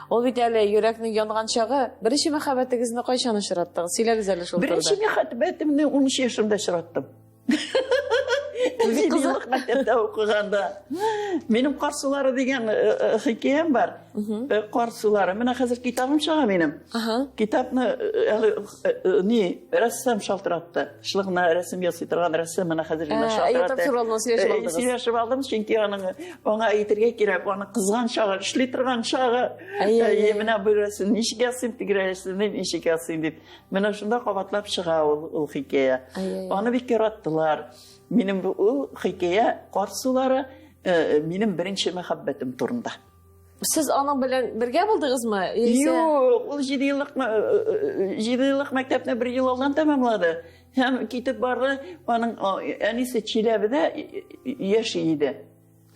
Ул бит әле йөрәкнең янган чагы. Беренче мәхәббәтегезне кайчан очраттыгыз? Сөйләгез әле шул турыда. Беренче мәхәббәтемне 13 яшымда очраттым. Кызык мәктәптә укыганда. Минем кар сулары дигән э, э, хикәям бар. Э, кар сулары. Менә хәзер китабым чыга минем. Китапны әле Э, э, ни рәссам шалтыратты шул гына рәсем ясый торган рәссам менә хәзер генә шалтыратты сөйләшеп алдым чөнки аның аңа әйтергә кирәк аның кызган чагы эшли торган чагы әйе менә бу рәсем ничек ясыйм теге рәсемне ничек ясыйм дип менә шунда кабатлап чыга ул ул хикәя аны бик яраттылар минем ул хикәя кар сулары э, минем беренче мәхәббәтем турында Сез аның белән бергә булдыгызмы? Яисә Юк, ул 7 еллык ма- э, э, җиде еллык мәктәпне бер ел алдан тәмамлады һәм китеп барды. Аның а, әнисе Чиләбедә и- и- яши иде.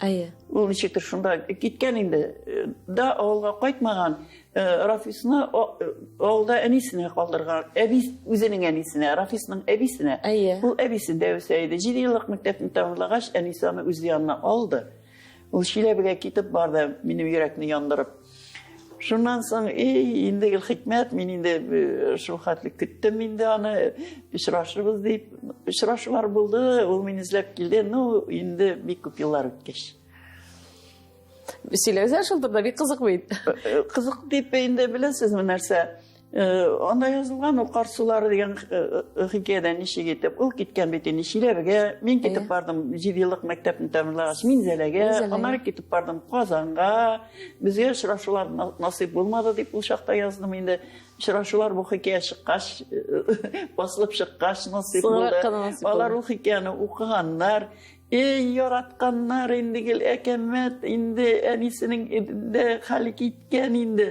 Әйе. Ул ничектер шунда киткән инде. Э, Да авылга кайтмаган. Э, Рафисны а- э, авылда әнисенә калдырган. Әби үзенең әнисенә, Рафисның әбисенә. Әйе. Ул әбисендә үсә иде. 7 еллык мәктәпне тәмамлагач, әнисе аны үз янына алды. Ул Чиләбегә китеп барды, минем йөрәкне яндырып. Шуннан соң, эй, инде гел хикмәт, мин инде э, шул хәтле көттем инде аны, очрашырбыз дип. Очрашулар булды, ул мине эзләп килде, ну, инде бик күп еллар үткәч. Сөйләгез шул турыда, бик кызык бит. Э, э, кызык дип инде беләсезме нәрсә? Э, анда язылган ул кар сулары дигән э, э, хикәядә ничек итеп ул киткән бит инде чиләбегә мин китеп бардым җиде еллык мәктәпне тәмамлагач минзәләгә аннары китеп бардым казанга безгә очрашулар насыйп булмады дип ул чакта яздым инде очрашулар бу хикәя чыккач басылып чыккач насыйп булды алар ул хикәяне укыганнар Эй, яратканнар инде гел әкәмәт, инде әнисенең инде хәле киткән инде.